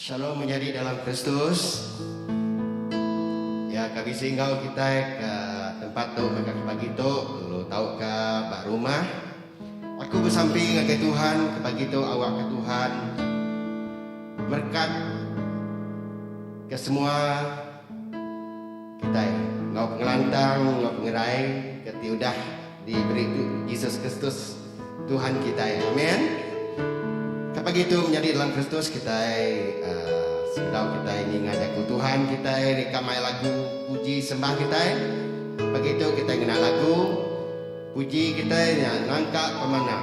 Shalom menyadi dalam Kristus. Ya ka bisi enggau kita ke tempat tu mega pagi tu lu tau ke ba rumah. Aku bersampi ngagai Tuhan ke pagi tu awak ke Tuhan berkat ke semua kita enggau pengelantang enggau pengerai ke ti udah Diberi tu Jesus Kristus Tuhan kitai. Amen. Ka pagi tu menyadi dalam Kristus kitai sebedau kitai ninga jaku Tuhan kitai rika mai lagu puji sembah kitai. Pagi tu kitai ngena lagu puji kitai nya nangka pemanah.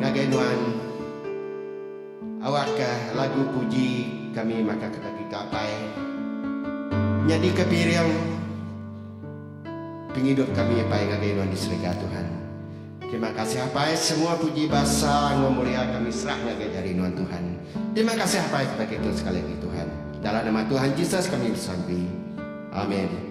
Ngagai nuan awak ka lagu puji kami maka kena kita apai nyadi ka piring pengidup kami apai ngagai nuan di serega tuhan terima kasih apai semua puji basa enggau mulia kami serah ngagai jari nuan tuhan terima kasih apai kepada kitu sekali agi tuhan dalam nama tuhan jesus kami besampi amen.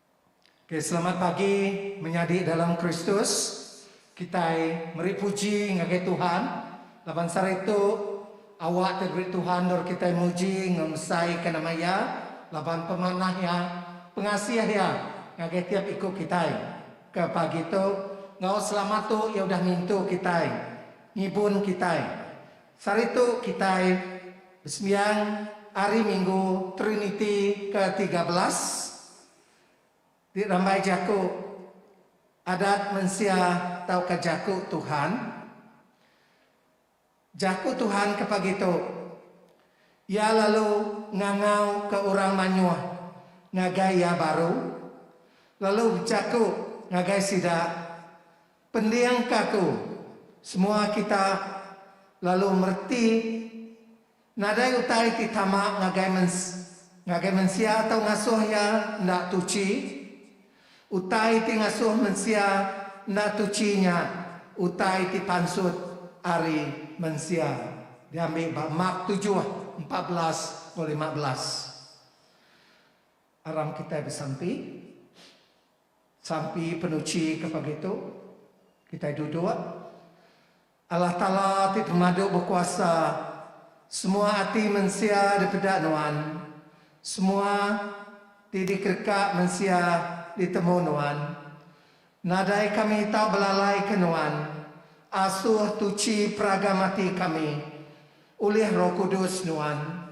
Ok selamat pagi menyadi dalam Kristus, kitai meri puji ngagai Tuhan laban sehari tu awak ti diberi Tuhan endur kitai muji enggau ngesaika nama Iya laban pemanah Iya, pengasih Iya ngagai tiap iku kitai ke pagi tu enggau selamat tu Iya udah ngintu kitai, ngibun kitai. Saritu kitai besembiang Hari Minggu Triniti ke tiga belas ti rambai jaku Adat Mensia tauka Jaku Tuhan. Jaku Tuhan ke pagi tu iya lalu ngangau ke orang manyoh ngagai iya baru lalu bejaku ngagai sida Pending ka tu, semua kita lalu mereti nadai utai ti tama ngagai ngagai mensia atau ngasuh iya enda tuchi. Utai ti ngasuh mensia enda tuchi nya utai ti pansut ari mensia, diambi ba Mark tujuh, empat belas enggau lima belas. Aram kitai besampi. Sampi penuchi ke pagi tu kitai duduk Allah Taala ti pemadu bekuasa semua ati mensia dipeda nuan semua ti dikereka mensia ditemu nuan nadai kami tak belalai ke nuan asuh tuchi peragam ati kami ulih roh kudus nuan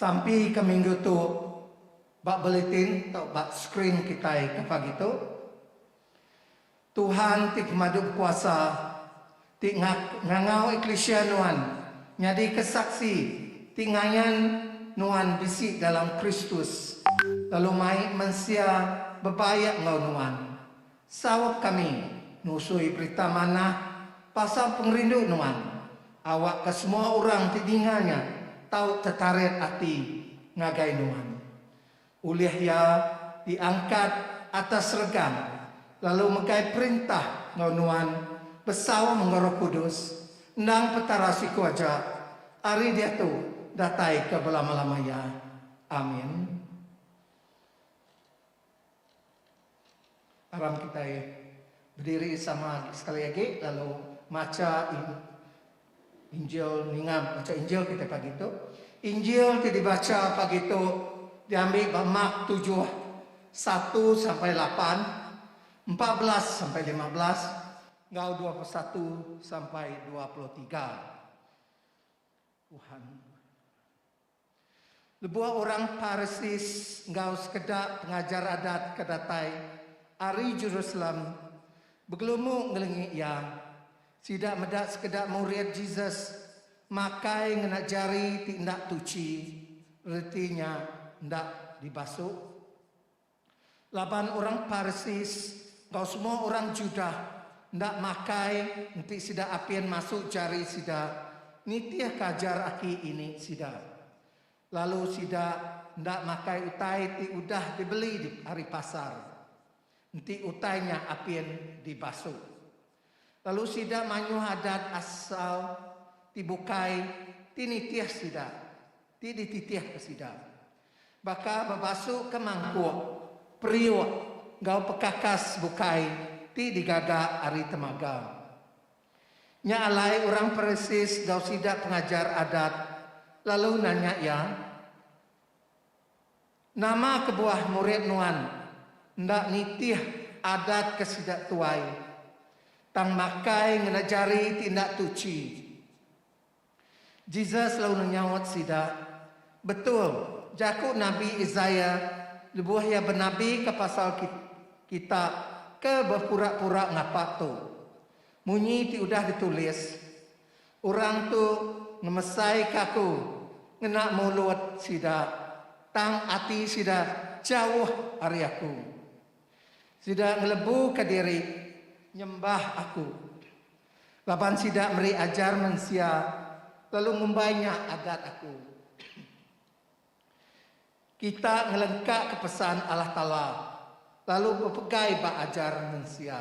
Sampi ke minggu tu ba bulletin tau ba screen kitai ke pagi tu. Tuhan ti pemadu bekuasa ti ngangau eklisia nuan nyadika saksi ti ngayan nuan bisi dalam Kristus lalu mai mensia bebaik enggau nuan. Saup kami nusui berita manah pasal pengerindu nuan, awakka semua orang ti ninga nya tau tetarit ati ngagai nuan. Ulih iya diangkat atas seregang lalu megai perintah enggau nuan besaum enggau Roh Kudus, endang Petara siku aja ari diatu datai ke belama-lama iya. Amin. Aram kitai bediri sama sekali agi lalu macha Injil ninga macha Injil kitai pagi tu. Injil ti dibacha pagi tu diambi ba Mark tujuh satu sampai lapan, empat belas sampai lima belas enggau dua puluh satu sampai dua puluh tiga. Tuhan. Lebuh orang Parsis enggau sekeda pengajar adat ke datai ari Jerusalem begelumu ngelengi iya, sida meda sekeda murid Jesus makai ngena jari ti enda tuchi, reti nya enda dibasuh. Laban orang Parsis enggau semua orang Judah enda makai enti sida apin masuk jari sida nitihka ajar aki ini sida, lalu sida enda makai utai ti udah dibeli ari pasar, enti utai nya apin dibasuh. lalu sida mayuh adat asal ti bukai ti nitih sida ti dititihka sida baka bebasuka mangkuk, periuk enggau pekakas bukai ti digaga ari temaga. Nya alai orang Parisis enggau sida pengajar adat lalu nanya iya. Nama kebuah murid nuan enda nitih adat ke sida tuai, tang makai ngena jari ti enda tuchi? Jesus lalu nyaut sida, Betul jaku nabi Isaiah lebuh iya benabika pasal kita ke bepura-pura ngapa tu, Munyi ti udah ditulis, Orang tu ngemesaika aku ngena mulut sida, tang ati sida jauh ari aku. Sida ngelebuka diri nyembah aku, laban sida meri ajar mensia lalu ngumbai nya adat aku. Kita ngelengkaka pesan Allah Taala lalu bepegai ba ajar mensia.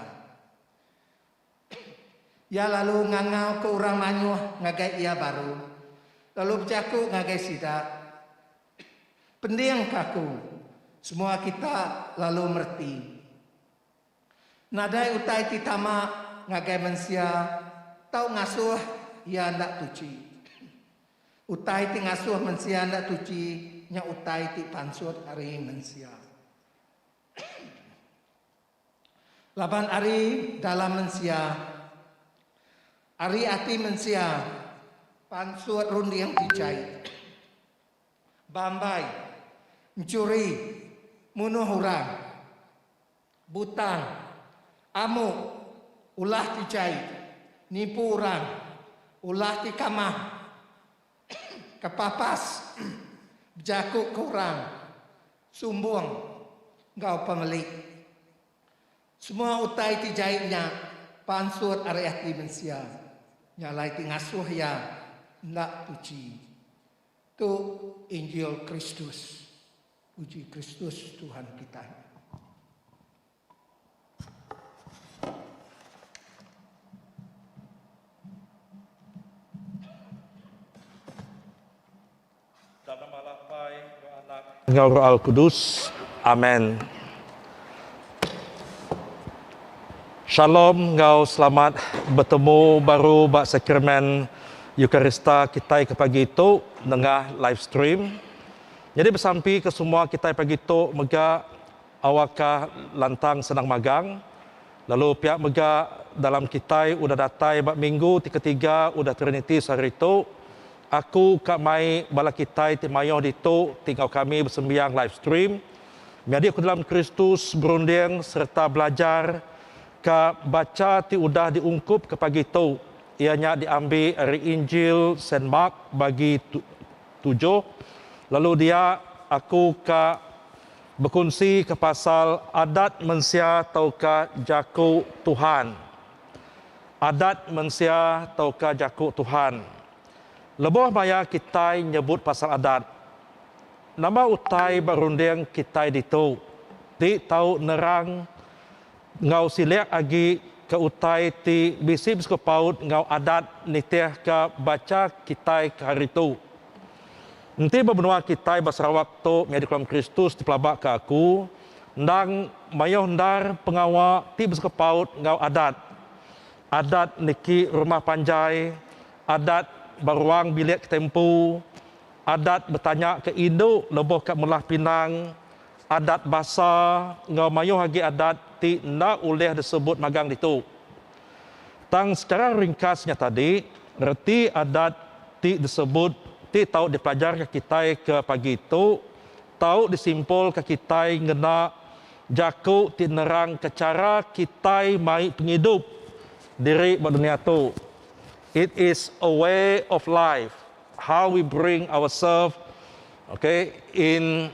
Iya lalu ngangauka orang mayuh ngagai iya baru, lalu bejaku ngagai sida, Pendingka aku! Semua kita lalu mereti, nadai utai ti tama ngagai mensia tau ngasuh iya enda tuchi. Utai ti ngasuh mensia enda tuchi nya utai ti pansut ari mensia. Laban ari dalam mensia, ari ati mensia, pansut runding ti jai. Bambai, enchuri, munuh orang, butang, amuk, ulah ti jai, nipu orang, ulah ti kamah, Kepapas bejaku ke orang sumbung enggau pengeli. Semua utai ti jai nya pansut ari ati mensia. Nya alai ti ngasuh iya enda puji. Tu injil Kristus. Puji Kristus Tuhan kitai. Ka nama lapai enggau anak enggau roal kudus. Amen. Shalom enggau selamat betemu baru ba Sakramen Eukarista kitai ke pagi tu nengah live stream. Nyadi besampi ke semua kitai pagi tu mega Awakka lantang senang magang, lalu pia mega dalam kitai udah datai ba minggu ti ketiga udah Trinity sehari tu, aku ka mai bala kitai ti mayuh ditu ti enggau kami besembiang live stream. Nyadi aku dalam Kristus berunding sereta belajar ka bacha ti udah diungkupka pagi tu iya nya diambi ari Injil Saint Mark bagi tujuh lalu dia aku ka Bekunsika pasal adat mensia tauka jaku Tuhan. Adat mensia tauka jaku Tuhan. Lebuh maya kitai nyebut pasal adat, nama utai ba runding kitai ditu ti tau nerang enggau silik agi ke utai ti bisi besekupaut enggau adat nitihka bacha kitai ke hari tu? Enti ba menua kitai ba Sarawak tu nyadi Kolam Kristus ti pelaba ke aku endang mayuh endar pengawa ti besekepaut enggau adat. Adat niki rumah panjai, adat ba ruang bilik kitai empu, adat betanya ke indu lebuh ka melah pinang, adat basa enggau mayuh agi adat ti enda ulih disebut magang ditu. Tang sekara ringkas nya tadi, reti adat ti disebut ti tau dipelajarka kitai ke pagi tu tau disimpulka kitai ngena jaku ti nerangka chara kitai mai pengidup diri ba dunia tu. It is a way of life how we bring ourselves okay in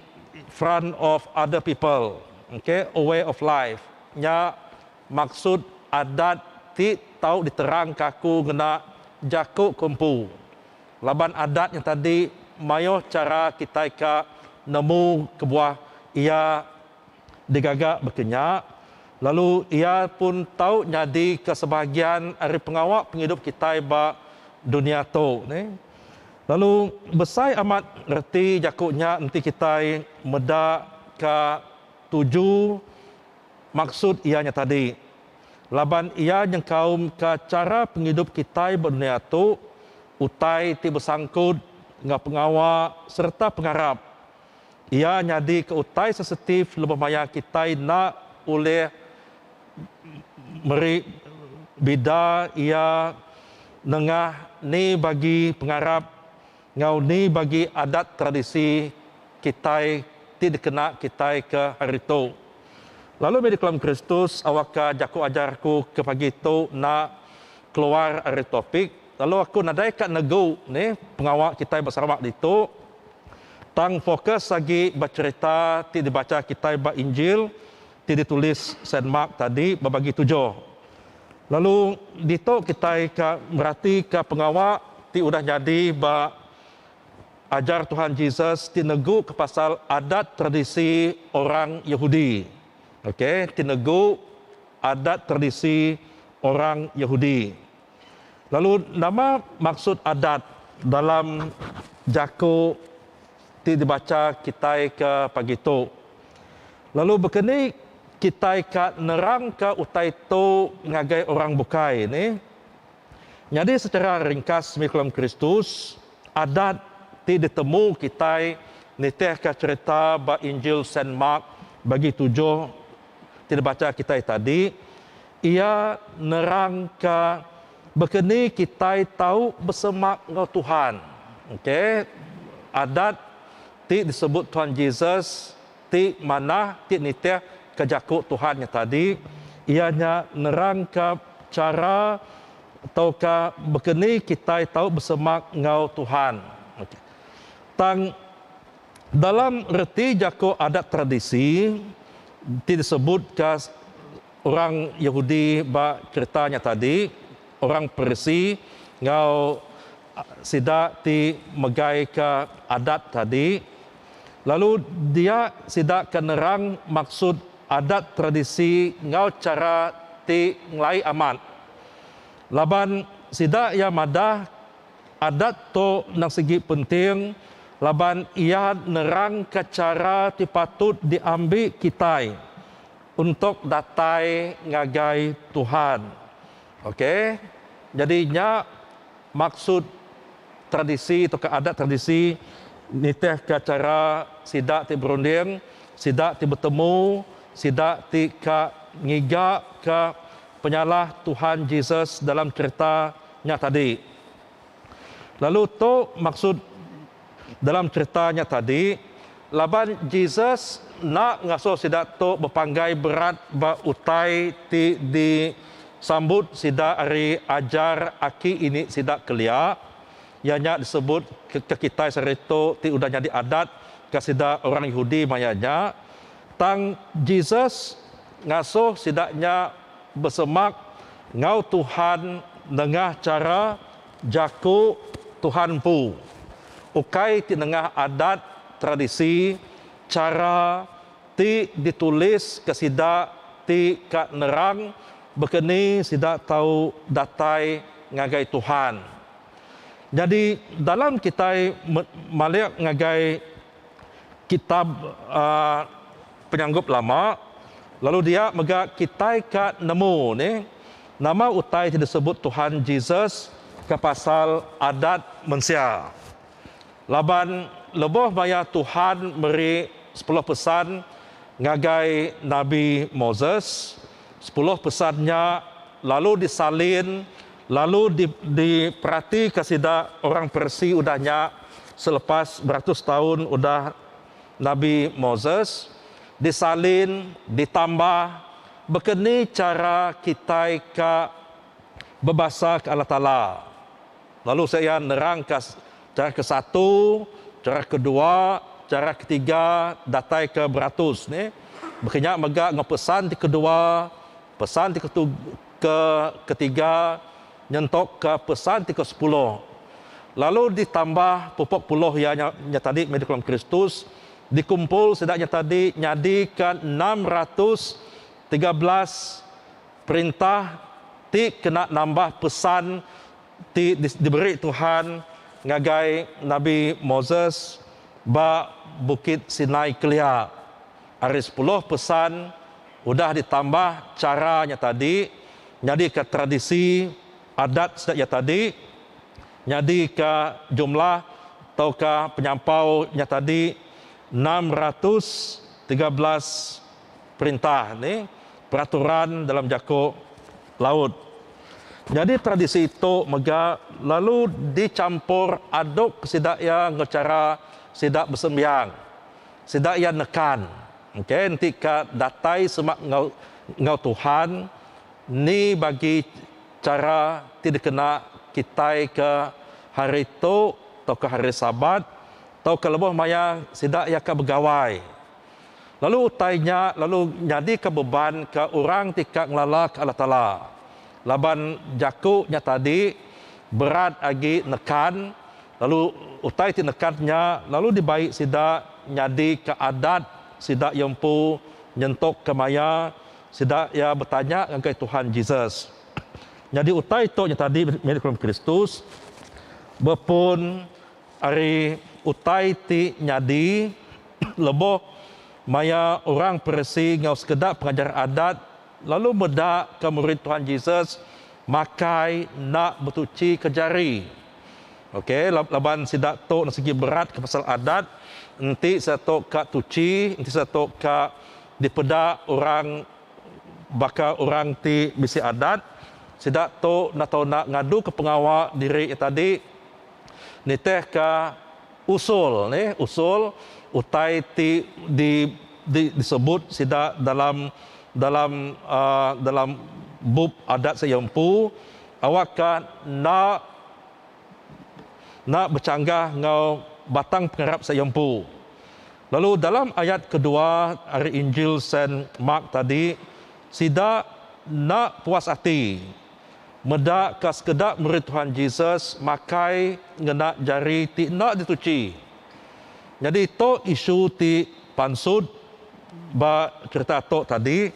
front of other people okay a way of life nya Maksud adat ti tau diterangka aku ngena jaku ke empu laban adat nya tadi mayuh chara kitai ka nemu kebuah iya digaga baka nya lalu iya pun tau nyadi ke sebahagian ari pengawa pengidup kitai ba dunia tu ni lalu besai amat reti jaku nya enti kitai meda ka tuju Maksud iya nya tadi, laban iya nyengkaumka chara pengidup kitai ba dunya tu, utai ti besangkut enggau pengawa sereta pengarap. Iya nyadika utai sensitif lebuh maya kitai enda ulih meri bida iya nengah ni bagi pengarap Enggau ni bagi adat tradisi kitai ti dikena kitai ke hari tu. Lalu mih dikelam Kristus awakka jaku ajar aku ke pagi tu enda keluar ari topik lalu aku nadai ka negu ni pengawa kitai ba Sarawak ditu tang fokus agi ba cherita ti dibacha kitai ba Injil Ti ditulis Saint Mark tadi bebagi tuju. Lalu ditu kitai ka meratika pengawa ti udah nyadi ba ajar Tuhan Jesus ti negu ke pasal adat tradisi orang Yahudi. Okay, ti negu adat tradisi orang Yahudi. Lalu nama maksud adat dalam jaku ti dibacha kitai ke pagi tu? Lalu baka ni kitai ka nerangka utai tu ngagai orang bukai ni? Nyadi sechara ringkas mih Kulam Kristus, adat ti ditemu kitai nitihka cherita ba Injil Saint Mark bagi tujuh ti dibacha kitai tadi, Iya nerangka baka ni kitai tau besemak enggau Tuhan. Okay, adat ti disebut Tuhan Jesus ti manah ti nitih ke jaku Tuhan nya tadi iya nya nerangka chara tauka baka ni kitai tau besemak enggau Tuhan. Okay, tang dalam reti jaku adat tradisi ti disebut ka. Orang Yehudi ba chereta nya tadi orang Perisi enggau sida ti megaika adat tadi lalu dia sida ke nerang maksud adat tradisi enggau chara ti ngelai amat laban sida iya madah adat tu endang sigi penting laban iya nerangka chara ti patut diambi kitai Untuk datai ngagai Tuhan. Ok jadi nya maksud tradisi tauka adat tradisi nitih ka chara sida ti berunding, sida ti betemu, sida ti ka ngiga ka penyalah Tuhan Jesus dalam cherita nya tadi. Lalu tu maksud dalam cherita nya tadi, laban Jesus enda ngasuh sida tu bepanggai berat ba utai ti disambut sida ari ajar aki ini sida kelia, iya nya disebut ke kitai sehari tu ti udah nyadi adat ke sida orang Yehudi maya nya, tang Jesus ngasuh sida nya Besemak ngau Tuhan nengah chara jaku Tuhan empu, ukai ti nengah adat tradisi chara ti ditulis ke sida ti ka nerang baka ni sida tau datai ngagai Tuhan. Nyadi dalam kitai malik ngagai. kitab penyanggup lama lalu dia mega kitai ka nemu ni nama utai ti disebut Tuhan Jesus ka pasal adat mensia laban leboh maya Tuhan meri sepuluh pesan ngagai nabi Moses. Sepuluh pesan nya lalu disalin lalu diperatika sida orang Parsi udah nya selepas beratus taun udah Nabi Moses disalin ditambah baka ni chara kitai ka bebasa ke Allah Taala lalu sek iya nerangka Cara ke satu, cara ke dua, cara ke tiga datai ke beratus ni. Baka nya mega enggau pesan ti ke dua, pesan ti ke tu ke ke tiga nyentok ke pesan ti ke sepuluh. Lalu di tambah pupok puluh iya nya nya tadi meh dikelem Kristus, di kumpul sida nya tadi nyadi ke enam ratus tiga belas perintah ti kena nambah pesan ti diberi Tuhan ngagai Nabi Moses ba Bukit Sinai kelia. Ari sepuluh pesan udah ditambah chara nya tadi nyadika tradisi adat sida iya tadi nyadika jumlah tauka penyampau nya tadi enam ratus tiga belas perintah ni peraturan dalam jaku laut. Nyadi tradisi tu mega lalu dichampur aduk sida iya enggau chara sida besembiang, sida iya nekan engke enti ka datai semak enggau enggau Tuhan ni bagi chara ti dikena kitai ke hari tu tauka hari sabat tauka lebuh maya sida iya ka begawai. lalu utai nya lalu nyadika beban ke orang ti ka ngelalaka Allah Taala. Laban jaku nya tadi berat agi nekan, lalu utai ti nekat nya lalu dibai sida nyadika adat sida iya empu nyentuk ke maya sida iya betanya ngagai Tuhan Jesus. Nyadi utai tu nya tadi milik Kristus bepun. Ari utai ti nyadi lebuh maya orang Parisi enggau sekeda pengajar Adat lalu meda ka murid Tuhan Jesus makai enda betuchi ka jari. Ok laban sida tu enda sigi berat ka pasal Adat enti sida tu ka tuchi enti sida tu ka dipeda orang baka orang ti bisi Adat sida tu enda tau enda ngadu ka pengawa diri iya tadi. Nitihka usul ni usul utai ti di di disebut sida dalam dalam dalam bup adat sida empu awak ka enda enda bechanggah enggau batang pengarap sida empu. Lalu dalam ayat kedua ari Injil Saint Mark tadi sida enda puas ati. Meda ka sekeda murid Tuhan Jesus makai ngena jari ti enda dituchi. Nyadi tu isu ti pansut ba cherita tu tadi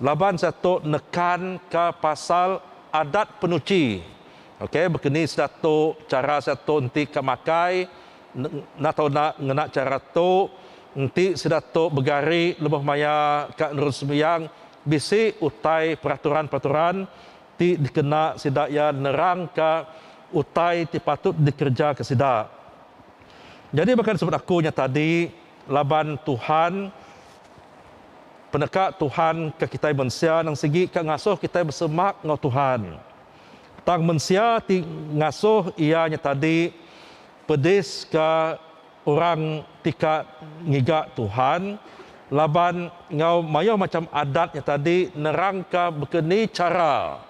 laban sida tu nekan ka pasal adat penuchi. Okey bekeni sida tu chara sida tu enti ka makai enda tau enda ngena chara tu enti sida tu begari lebuh maya ka nerus sembiang. Bisi utai peraturan-peraturan ti dikena sida iya nerangka utai ti patut dikerejaka sida. Nyadi baka disebut aku nya tadi laban Tuhan peneka Tuhan ke kitai mensia nang sigi ka ngasuh kitai besemak enggau Tuhan. Tang mensia ti ngasuh iya nya tadi pediska. orang ti ka ngiga Tuhan laban enggau mayuh macham adat nya tadi nerangka baka ni chara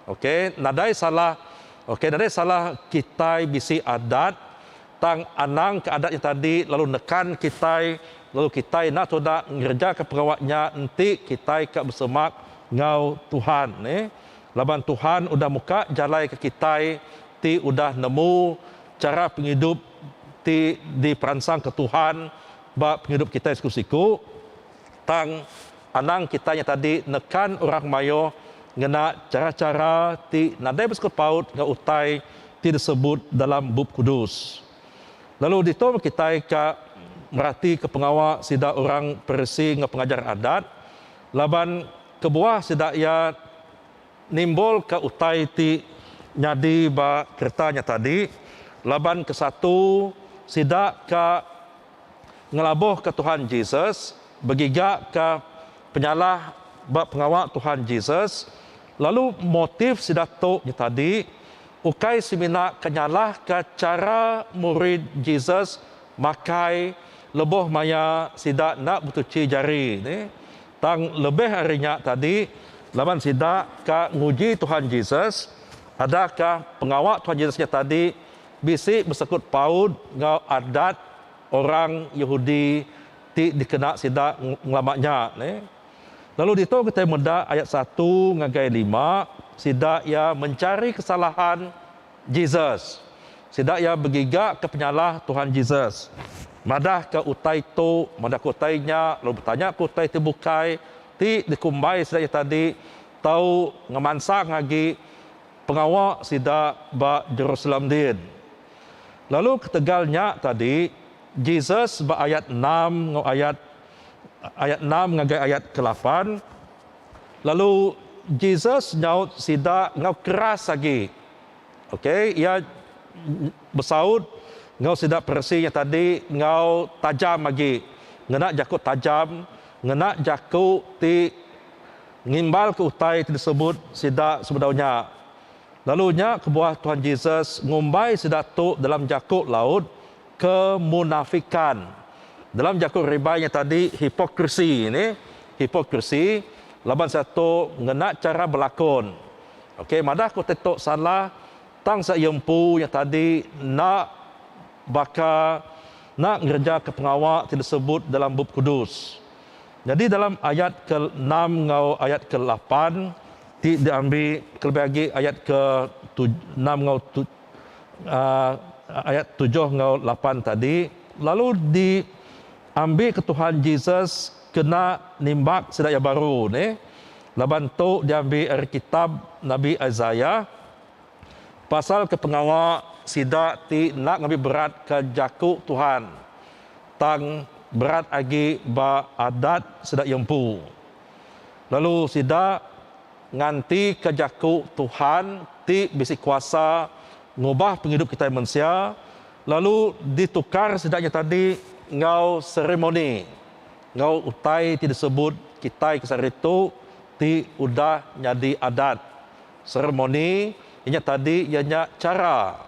ok nadai salah ok nadai salah kitai bisi adat tang anang ka adat nya tadi lalu nekan kitai lalu kitai enda tuda ngerejaka pengawa nya enti kitai ka besemak enggau Tuhan neh laban Tuhan udah muka jalai ke kitai ti udah nemu chara pengidup ti diperansangka Tuhan ba pengidup kitai siku-siku, tang anang kitai nya tadi nekan orang mayuh ngena chara-chara ti nadai besikut paut enggau utai ti disebut dalam Bup Kudus. Lalu ditu meh kitai ka meratika pengawa sida orang Parisi enggau pengajar Adat, laban kebuah sida iya. Nimbulka utai ti nyadi ba kereta nya tadi laban ke satu sida ka ngelabuhka Tuhan Jesus begigaka penyalah ba pengawa Tuhan Jesus lalu motif sida tu nya tadi ukai semina ka nyalahka chara murid Jesus makai lebuh maya sida enda betuchi jari ne. Tang lebih ari nya tadi, laban sida ka nguji Tuhan Jesus, adakah pengawa Tuhan Jesus nya tadi bisi besekut paut enggau adat orang Yehudi ti dikena sida ngelama nya? Lalu ditu kitai meda ayat satu ngagai lima, sida iya mencari kesalahan. Jesus. Sida iya begigaka penyalah Tuhan Jesus, madahka utai tu, madahka utai nya, lalu betanyaka utai ti bukai ti dikumbai sida iya tadi tau ngemansang agi pengawa sida ba Jerusalem din. Lalu ketegal nya tadi, Jesus ba ayat enam enggau ayat ayat enam ngagai ayat ke lapan, Lalu Jesus nyaut sida enggau keras agi. Okay, iya besaut enggau sida Parisi nya tadi enggau tajam agi, ngena jaku tajam, ngena jaku ti ngimbalka utai ti disebut sida sebedau nya. Lalu nya kebuah Tuhan Jesus ngumbai sida tu dalam jaku laut. kemunafikan. Dalam jaku ribai nya tadi hipokrisi ni, hipokrisi laban sia tu ngena chara belakon. Okey madah ku ti tu salah tang sia iya empu nya tadi enda baka enda ngerejaka pengawa ti disebut dalam Bup Kudus. Nyadi dalam ayat ke enam enggau ayat ke lapan ti diambi kelebih agi ayat ke tuj enam enggau tuj. ayat tujuh enggau lapan tadi lalu di ambi ke Tuhan Jesus kena nimbak sida iya baru ne laban tu diambi ari kitab nabi Isaiah pasal ke pengawa sida ti enda ngambi berat ke jaku Tuhan tang berat agi ba adat sida iya empu lalu sida Ngantika jaku Tuhan ti bisi kuasa ngubah pengidup kitai mensia lalu ditukar sida nya tadi enggau seremoni enggau utai ti disebut kitai ke sehari tu ti udah nyadi adat. Seremoni inya tadi iya nya chara.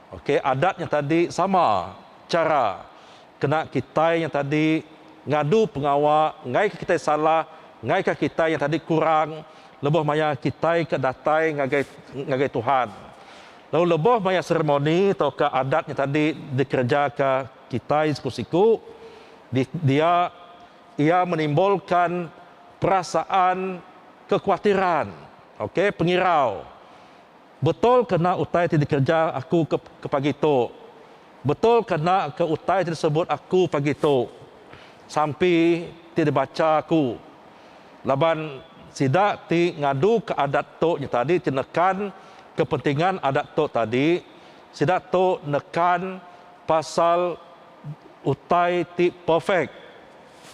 Okey adat nya tadi sama chara. Kena kitai nyang tadi ngadu pengawa ngaika kitai salah, ngaika kitai nyang tadi kurang lebuh maya kitai ke datai ngagai ngagai Tuhan. Lalu lebuh maya seremoni tauka adat nya tadi dikerejaka kitai siku-siku, di dia iya menimbulkan perasaan kekuatiran, okay, pengirau. Betul ke enda utai ti dikereja aku ke ke pagi tu? Betul ke enda ke utai ti disebut aku pagi tu sampi ti dibacha aku? Laban sida ti ngaduka adat tu nyetadi ti nekan kepentingan adat tu tadi, sida tu nekan pasal utai ti perfect.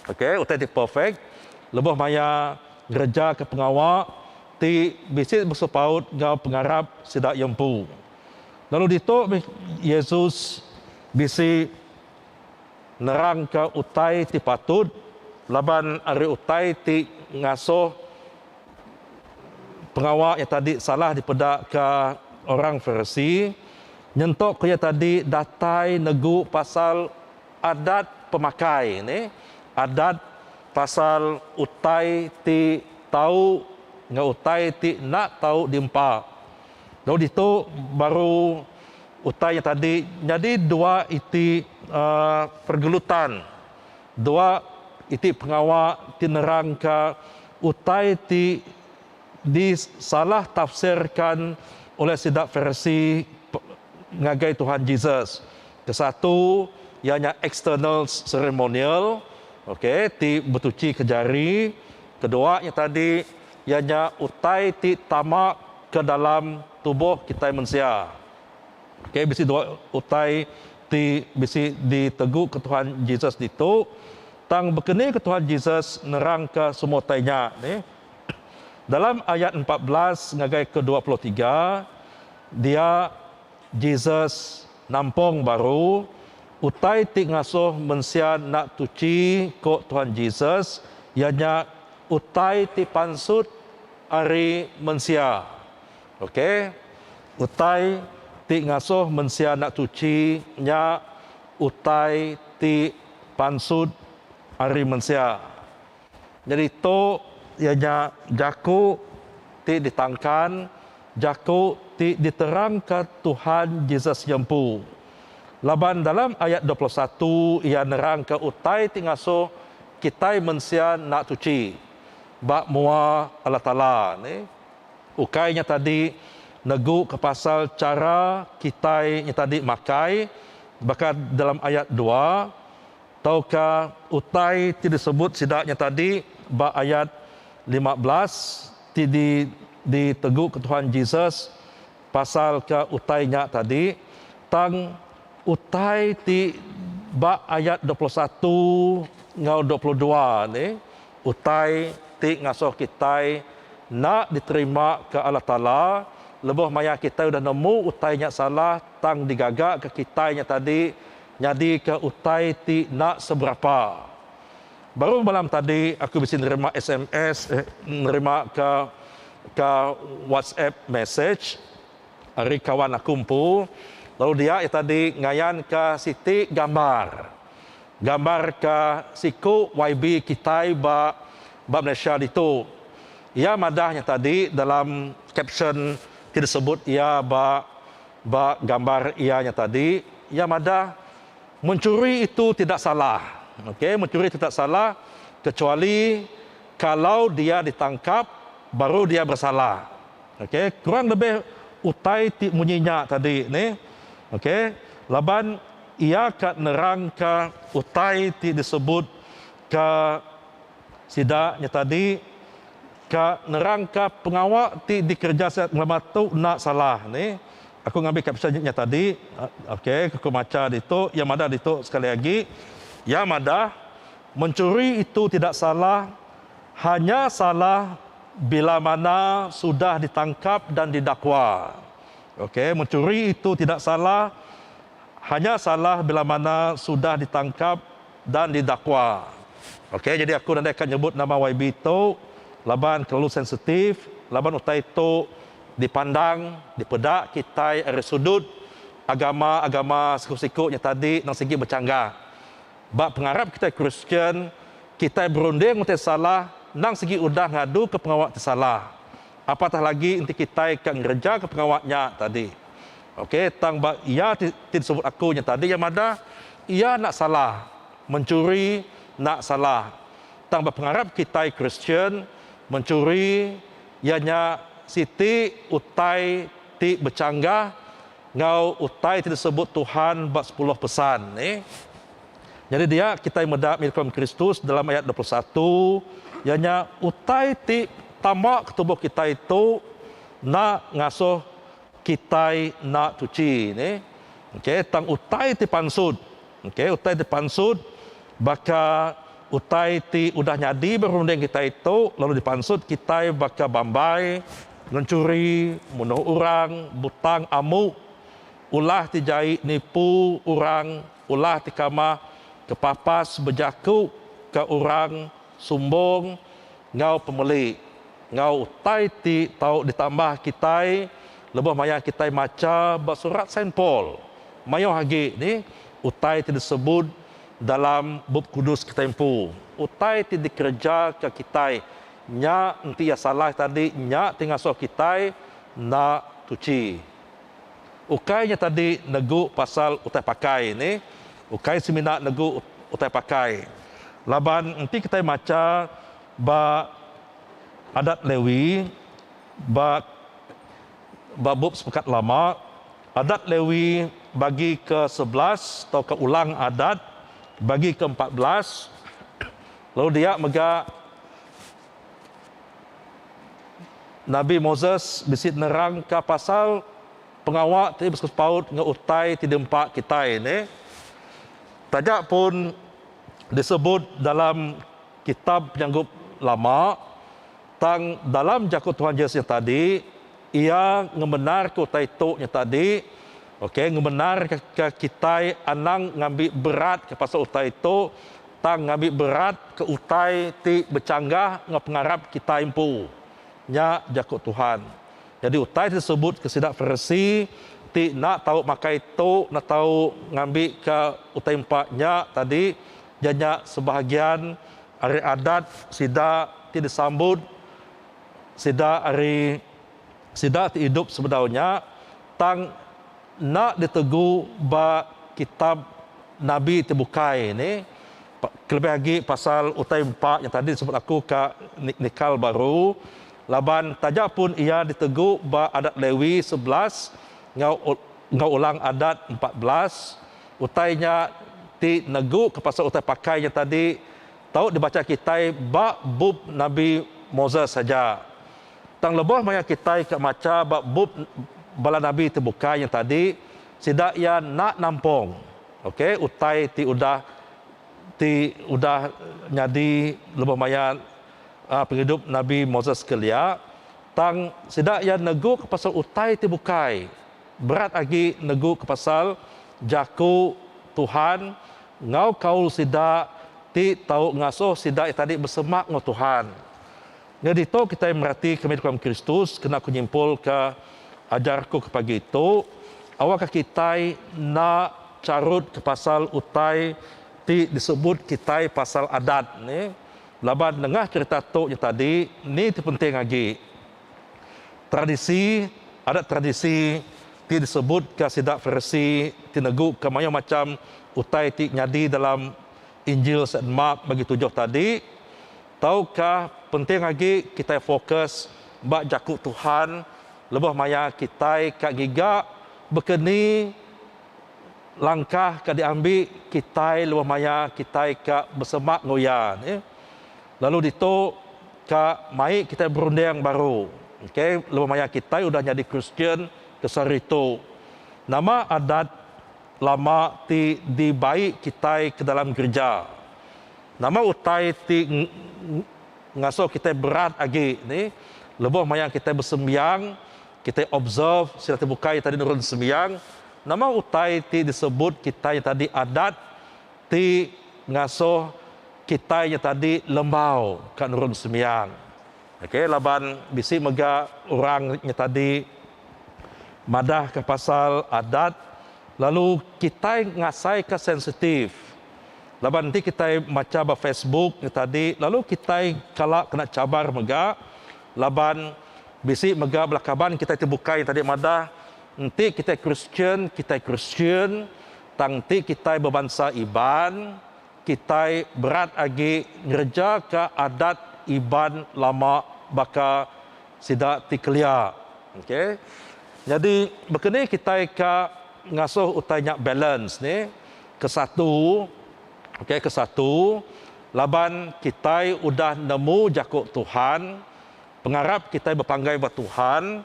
Okey, utai ti perfect lebuh maya ngerejaka pengawa. ti bisi besepaut enggau pengarap sida iya empu. Lalu ditu meh Yesus bisi nerangka utai ti patut laban ari utai ti ngasuh pengawa iya tadi salah dipedaka orang Farisi nyentuk ku iya tadi datai negu pasal adat pemakai ne adat Pasal utai ti tau enggau utai ti enda tau diempa. Lalu ditu baru utai nya tadi nyadi dua iti pergelutan, dua iti pengawa ti nerangka utai ti disalah tafsirka oleh sida Farisi ngagai Tuhan Jesus. Kesatu iya nya eksternal seremonial okay ti betuchi ke jari, kedua nya tadi iya nya utai ti tama ke dalam tubuh kitai mensia. Okay bisi dua utai ti bisi di tegu ke Tuhan Jesus ditu tang bekeni ke Tuhan Jesus nerang ke semua utai nya nih dalam ayat empat belas ngagai ke dua puluh tiga dia Jesus nampong baru utai ti ngasuh mensia enda tuchi ko Tuhan Jesus iya nya utai ti pansut ari mensia. Ok utai ti ngasuh mensia enda tuchi nya utai ti pansut ari mensia. Nyadi tu iya nya jaku ti ditangkan, jaku ti diterangka Tuhan Jesus nya empu. Laban dalam ayat dua puluh satu iya nerangka utai ti ngasuh kitai mensia enda suci ba mua Allah Taala ne. Ukai nya tadi neguka pasal chara kitai nya tadi makai baka dalam ayat dua. tauka utai ti disebut sida nya tadi ba ayat lima belas ti di diteguka Tuhan Jesus pasalka utai nya tadi tang utai ti ba ayat dua puluh satu enggau dua puluh dua ni utai ti ngasuh kitai enda diterima ke Allah Taala lebuh maya kitai udah nemu utai nya salah tang digagaka kitai nya tadi Nyadika utai ti enda seberapa. Baru malam tadi aku bisi nerima sms eh nerima ka ka WhatsApp message ari kawan aku empu lalu dia iya tadi ngayan ka siti gambar. Gambar ka siku YB kitai ba ba Malaysia ditu. Iya madah nya tadi dalam caption ti disebut iya ba. Ba gambar iya nya tadi, iya madah menchuri itu tidak salah. Okey, menchuri tidak salah kecuali kalau dia ditangkap baru dia bersalah. Okey, kurang lebih utai ti munyi nya tadi ni. Okey, laban iya ka nerangka utai ti disebut ka. Sida nya tadi ka nerangka pengawa ti dikereja sida ngelama tu enda salah ni. Aku ngambi ka pisa nya tadi ok aku macha ditu iya madah ditu sekali agi iya madah mencuri itu tidak salah hanya salah bila mana sudah ditangkap dan didakwa ok mencuri itu tidak salah. Hanya salah bila mana sudah ditangkap dan didakwa. Ok jadi aku nadai ka nyebut nama YB tu laban kelalu sensitif laban utai tu dipandang dipeda kitai ari sudut agama agama siku siku nya tadi nang sigi bechanggah. Ba pengarap kitai Kristian kitai berunding utai salah nang sigi udah ngadu ke pengawa ti salah. Apatah lagi enti kitai ka ngereja ke pengawa nya tadi. Okey, tang ba iya ti ti disebut aku nya tadi iya madah, iya enda salah menchuri, enda salah. Tang ba pengarap kitai Kristian, menchuri iya nya siti utai ti bechanggah enggau utai ti disebut Tuhan ba Sepuluh Pesan ni. Nyadi dia kitai meda nyukung Kristus dalam ayat dua puluh satu, iya nya utai ti tama ke tubuh kitai tu enda ngasuh Kitai enda cuci ne ok tang utai ti pansut ok utai ti pansut baka utai ti udah nyadi ba runding kitai tu lalu dipansut kitai baka bambai ngencuri munuh orang butang amu ulah ti jai nipu orang ulah ti kamah kepapas bejaku ka orang. Sumbung enggau pemeli enggau utai ti tau ditambah kitai lebuh maya kitai macha ba Surat Saint Paul. Mayuh agi ni utai ti disebut dalam Bup Kudus kitai empu. Utai ti dikerejaka kitai nya enti iya salah tadi nya ti ngasuh kitai enda tuchi. Ukai nya tadi negu pasal utai pakai ni ukai semina negu utai pakai laban enti kitai macha ba adat Lewi ba ba bup sepekat lama adat Lewi bagi ke sebelas tauka ulang adat bagi ke empat belas lalu dia mega Nabi Moses bisi nerangka pasal pengawa ti besepaut enggau utai ti diempa kitai ne. Taja pun disebut dalam kitab penyanggup lama, tang dalam jaku Tuhan Jesus nya tadi, iya ngemenarka utai tu nya tadi, okay, ngemenarka kitai anang ngambi berat pasal utai tu tang ngambi berat ke utai ti bechanggah enggau pengarap kitai empu. Nya jaku Tuhan. Nyadi utai ti disebut ke sida Farisi ti enda tau makai tu enda tau ngambika utai empa nya tadi iya nya sebahagian ari adat sida ti disambut sida ari. Sida ti idup sebedau nya tang enda ditugu ba kitab nabi ti bukai ni kelebih agi pasal utai empa nya tadi disebut aku ka nikal baru laban taja pun iya ditugu ba adat Lewi sebelas enggau Ulang Adat empat belas utai nya ti neguka pasal utai pakai nya tadi tau dibacha kitai ba bup nabi Moses aja. Tang lebuh maya kitai ka macha ba bup bala nabi ti bukai nya tadi, sida iya enda nampung ok utai ti udah ti udah nyadi lebuh maya aaa pengidup nabi Moses kelia. Tang sida iya neguka pasal utai ti bukai, berat agi neguka pasal jaku Tuhan enggau kaul sida ti tau ngasuh sida iya tadi besemak enggau Tuhan. Nyadi tu kitai merati kami deka mengkristus kena ku nyimpulka ajar ku ke pagi tu, awakka kitai enda charutka pasal utai ti disebut kitai pasal adat ne. Laban nengah cherita tu nya tadi ni ti penting agi tradisi adat tradisi ti disebutka sida Farisi ti neguka mayuh macham utai ti nyadi dalam Injil Saint Mark bagi tujuh tadi Tauka penting agi kitai fokus ba Jaku Tuhan lebuh maya kitai ka giga? Baka ni langkah ka diambi kitai lebuh maya kitai ka besemak enggau Iya? Lalu ditu ka mai kitai berunding baru okay lebuh maya kitai udah nyadi Kristian ke sehari tu. Nama adat lama ti dibai kitai ke dalam gerija? Nama utai ti ngasuh kitai berat agi ni? Lebuh maya kitai besembiang, kitai observe sida ti bukai tadi nurun sembiang, nama utai ti disebut kitai tadi adat ti ngasuh kitai nya tadi lembau ka nurun sembiang. Okey laban bisi mega orang nya tadi madahka pasal adat lalu kitai ngasaika sensitif. Laban enti kitai macha ba Facebook nya tadi lalu kitai kala kena cabar mega laban bisi mega bala kaban kitai ti bukai nya tadi madah enti kitai Kristian kitai Kristian tang enti kitai bebansa Iban kitai berat agi ngereja ka adat Iban lama baka sida ti kelia okay nyadi baka ni kitai ka ngasuh utai nya balance ni. Kesatu, okay, kesatu, laban kitai udah nemu jaku Tuhan, pengarap kitai bepanggai ba Tuhan,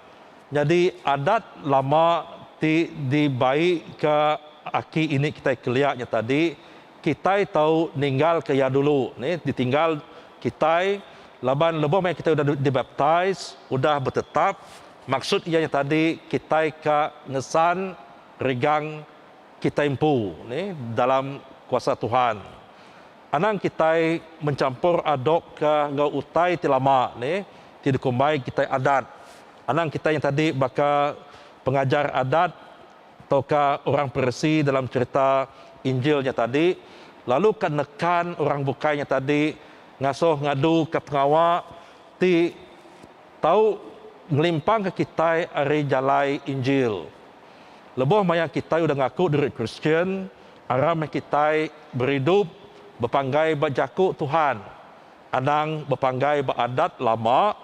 nyadi adat lama ti dibaika aki ini kitai kelia nya tadi, kitai tau ninggalka iya dulu, ni ditinggal kitai laban lebuh maya kitai udah dibaptis, udah betetap, maksud iya nya tadi kitai ka ngesan regang. Kitai empu ni dalam kuasa Tuhan. Anang kitai menchampor adop ka enggau utai ti lama ni ti dikumbai kitai adat. Anang kitai nya tadi baka pengajar adat tauka orang peresi dalam cherita injil nya tadi lalu ka nekan orang bukai nya tadi ngasoh ngadu ka pengawa ti tau ngelimpang ka kitai ari jalai injil. Lebuh maya kitai udah ngaku diri Kristian, aram meh kitai beridup bepanggai ba Jaku Tuhan anang bepanggai ba adat lama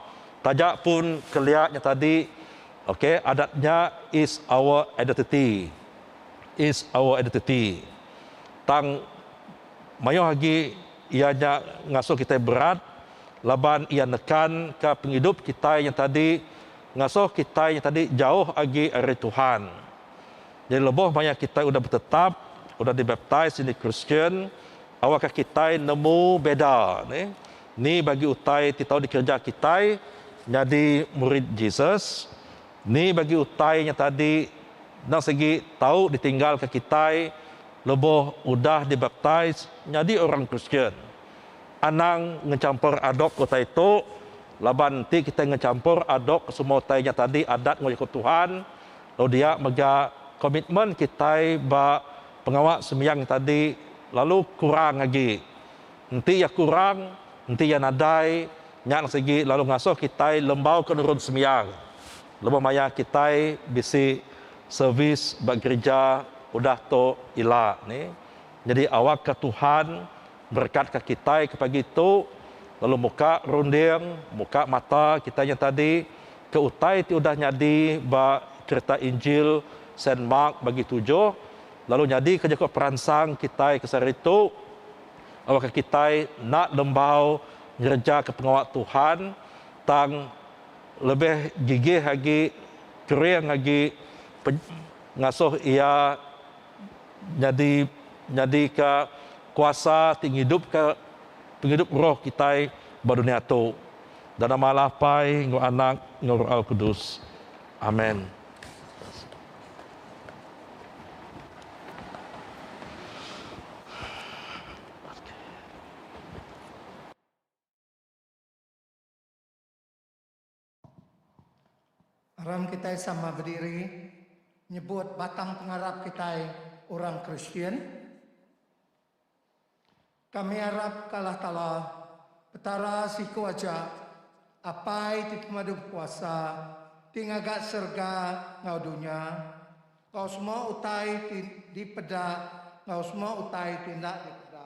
taja pun kelia nya tadi ok adat nya is our identity is our identity tang mayuh agi iya nya ngasuh kitai berat laban iya nekanka pengidup kitai nya tadi Ngasuh kitai nya tadi jauh agi ari Tuhan. Jadi lebuh maya kitai udah betetap, udah dibaptis nyadi Kristian, awakka kitai nemu beda ni ni bagi utai ti tau dikereja kitai nyadi murid Jesus, ni bagi utai nya tadi enda sigi tau ditinggalka kitai lebuh udah dibaptis nyadi orang Kristian. Anang ngechampor adop utai tu laban enti kitai ngechampor adop semua utai nya tadi adat enggau jaku Tuhan lalu dia mega komitmen kitai ba pengawa sembiang nya tadi lalu kurang agi. Enti iya kurang, enti iya nadai nya lalu sigi lalu ngasuh kitai lembauka nurun sembiang lebuh maya kitai bisi servis ba gerija udah tu ila. Nyadi awakka Tuhan berekatka kitai ke pagi tu lalu muka runding, muka mata kitai nya tadi ke utai ti udah nyadi ba cherita Injil Saint Mark bagi tujuh lalu nyadika jaku peransang kitai ke sehari tu awakka kitai enda lembau ngerejaka pengawa Tuhan tang lebih gigih agi kering agi ngasuh Iya nyadi nyadika kuasa ti ngidupka pengidup roh kitai ba dunya tu. Dana malah Pai enggau Anak enggau Roh Alkudus. Amen. Aram kitai sama bediri nyebut batang pengarap kitai orang Kristian. Kami arap ke Allah Taala, Petara siku aja, Apai ti Pemadu Bekuasa, ti ngaga serega enggau dunya, enggau semua utai ti dipeda enggau semua utai ti enda dipeda.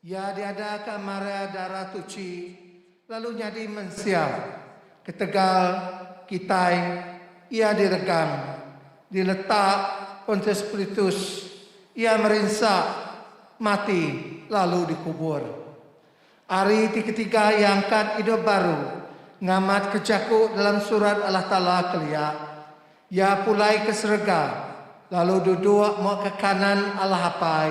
Iya diadaka mara Dara Tuchi lalu nyadi mensia. Ketegal kitai iya diregang, diletak Pontius Pilitus, iya merinsa, mati lalu dikubur. Ari ti ketiga iya angkat idup baru ngamatka jaku dalam Surat Allah Taala kelia. Iya pulai ke serega lalu duduk muka kanan Allah Apai.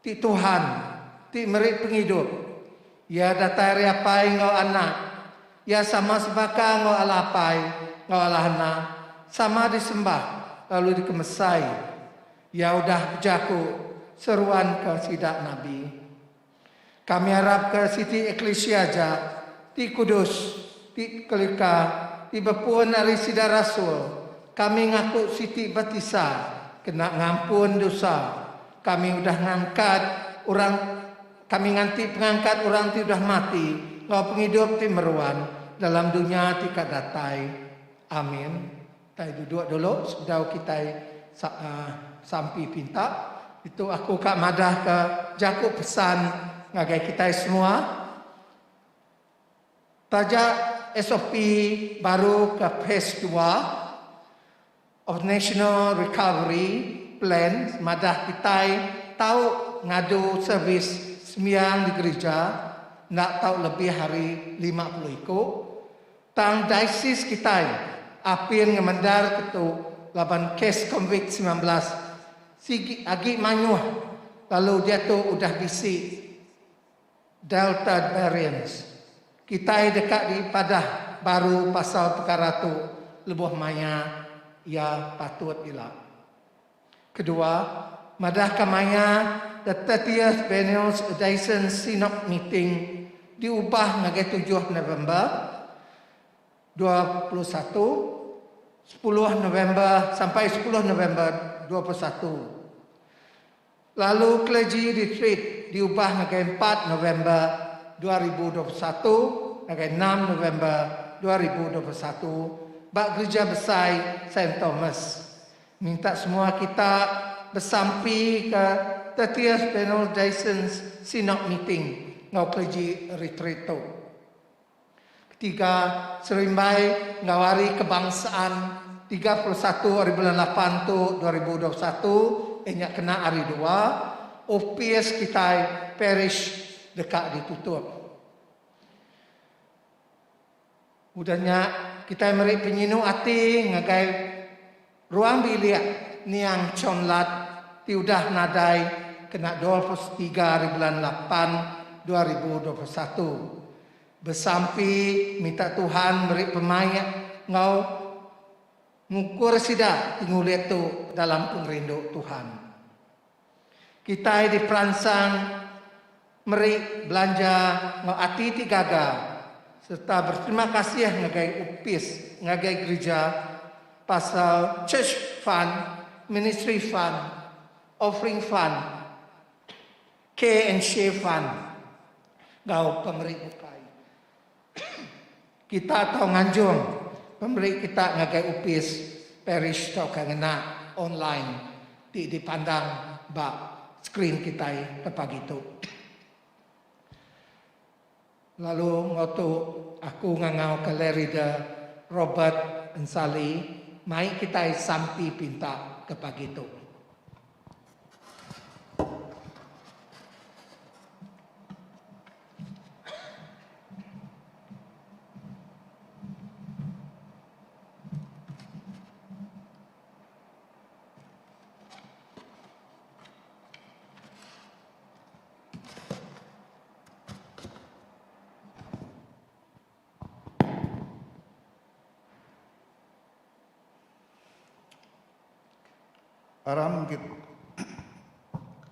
Ti Tuhan ti meri pengidup. Iya datai ari Apai enggau Anak. Iya sama sebaka enggau Allah Apai enggau Allah Anak, sama disembah lalu dikemesai. Iya udah bejaku seruanka sida nabi. Kami arapka siti eklisia aja ti kudus, ti tekelika, ti bepun ari sida rasul, kami ngaku siti batisa kena ngampun dusa. Kami udah ngangkat orang kami nganti pengangkat orang ti udah mati enggau pengidup ti meruan dalam dunya ti ka datai. Amin. Kitai duduk dulu sebedau kitai sampi pinta. Ditu aku ka madahka jaku pesan ngagai kitai semua. Taja SOP baru ke Phase dua of National Recovery Plan madah kitai tau ngadu servis sembiang di gerija enda tau lebih ari lima puluh iku, tang daisis kitai apin ngemendar ke tu laban kes Covid semilan belas sigi agi mayuh lalu diatu udah bisi Delta Variants, kitai deka dipadah baru pasal pekara tu lebuh maya iya patut ila. Kedua, madahka maya The Thirtieth Benel's Odaisen Synod Meeting diubah ngagai tujuh November dua puluh satu, sepuluh November sampai sepuluh November dua puluh satu. lalu Clergy Retreat diubah ngagai empat November dua ribu dua puluh satu ngagai enam November dua ribu dua puluh satu ba Gerija Besai Saint Thomas. Minta semua kita besampi ke Thirtieth General Diocesan Synod Meeting enggau Clergy Retreat tu. Ketiga, serimbai enggau Hari Kebangsaan tiga puluh satu ari bulan lapan tu dua ribu dua puluh satu iya nya kena Hari Dua, opis kitai parish deka ditutup. Udah nya, kitai meri penyinu ati ngagai. Ruang bilik niang Chon Lat ti udah nadai kena dua puluh setiga ari bulan lapan dua ribu dua puluh satu besampi minta Tuhan meri pemaik enggau ngukur sida ti ngulit tu dalam pengerindu Tuhan. Kitai diperansang meri belanja enggau ati ti gaga sereta beterima kasih ngagai opis ngagai gerija pasal Church Fund, Ministry Fund, Offering Fund, Care and Share Fund enggau pemeri bukai. Kita tau nganjung pemeri kita ngagai opis parish tauka ngena online ti dipandang ba skrin kitai ke pagi tu. Lalu enggau tu aku ngangauka Lerida Robert Ensali mai kitai sampi pinta ke pagi tu.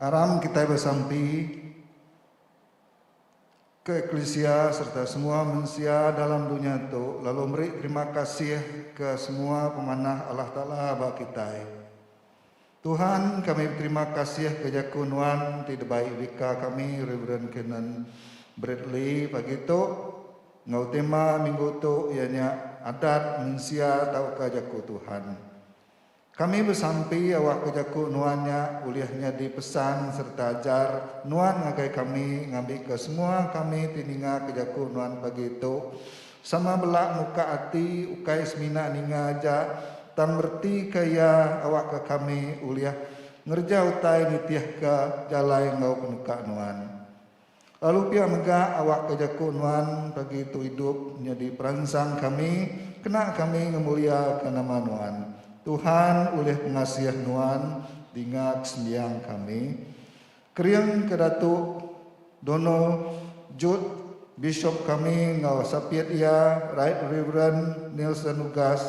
Aram kitai besampi. ke eklisia sereta semua mensia dalam dunya tu lalu meri terima kasih ke semua pemanah Allah Taala ba kitai. Tuhan kami beterima kasih ke jaku nuan ti debai Vicar kami Rev Canon Bradley pagi tu enggau tema minggu tu iya nya Adat Mensia Tauka Jaku Tuhan. Kami besampi awak ke jaku nuan nya ulih nyadi pesan sereta ajar nuan ngagai kami ngambika semua kami ti ninga ke jaku nuan pagi tu sama bela muka ati ukai semina ninga aja tang beretika iya awakka kami ulih ngereja utai nitihka jalai enggau penuka nuan. Lalu pia mega awakka jaku nuan pagi tu idup nyadi peransang kami kena kami ngemuliaka nama nuan. Tuhan ulih pengasih nuan dinga kesembiang kami. Keringka Datu Dono Judd Bishop kami enggau sapit iya Right Reverend Nielson Lugas.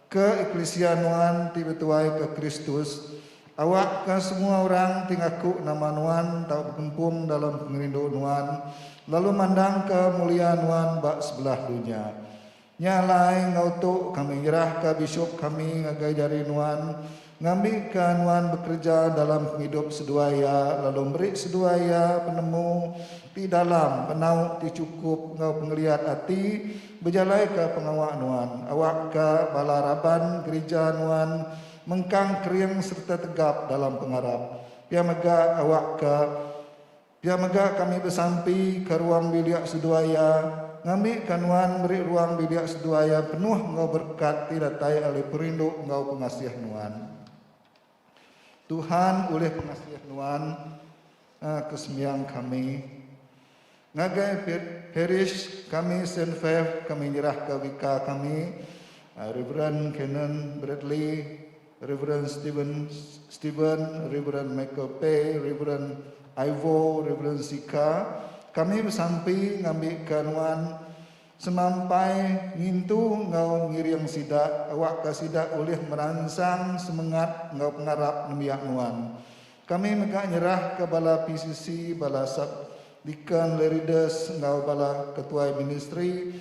Ke eklisia nuan ti betuaika Kristus, awakka semua orang ti ngaku nama nuan tau bekempung dalam pengerindu nuan lalu mandangka mulia nuan ba sebelah dunya. Nya alai enggau tu kami nyerahka bisup kami ngagai jari nuan, Ngambika nuan bekereja dalam pengidup seduai iya lalu meri seduai iya penemu ti dalam, penau ti chukup enggau pengeliat ati bejalaika pengawa nuan. Awakka bala raban gerija nuan mengkang kering sereta tegap dalam pengarap. Pia mega awakka. Pia mega kami besampi ka ruang bilik seduai iya ngambika nuan meri ruang bilik seduai iya penuh enggau berekat ti datai ari perindu enggau pengasih nuan. Tuhan ulih pengasih nuan aa kesembiang kami. Ngagai parish kami Saint Fav kami nyerahka vika kami aa Reverend Canon Bradley. Reverend Steven, Steven, Reverend Michael Pei, Reverend Ivo, Reverend Sika, kami besampi ngambika nuan semampai ngintu enggau ngiring sida awakka sida ulih meransang semengat enggau pengarap nembiak nuan. Kami mega nyerahka bala PCC, bala sub-deacon, lerides enggau bala ketuai ministri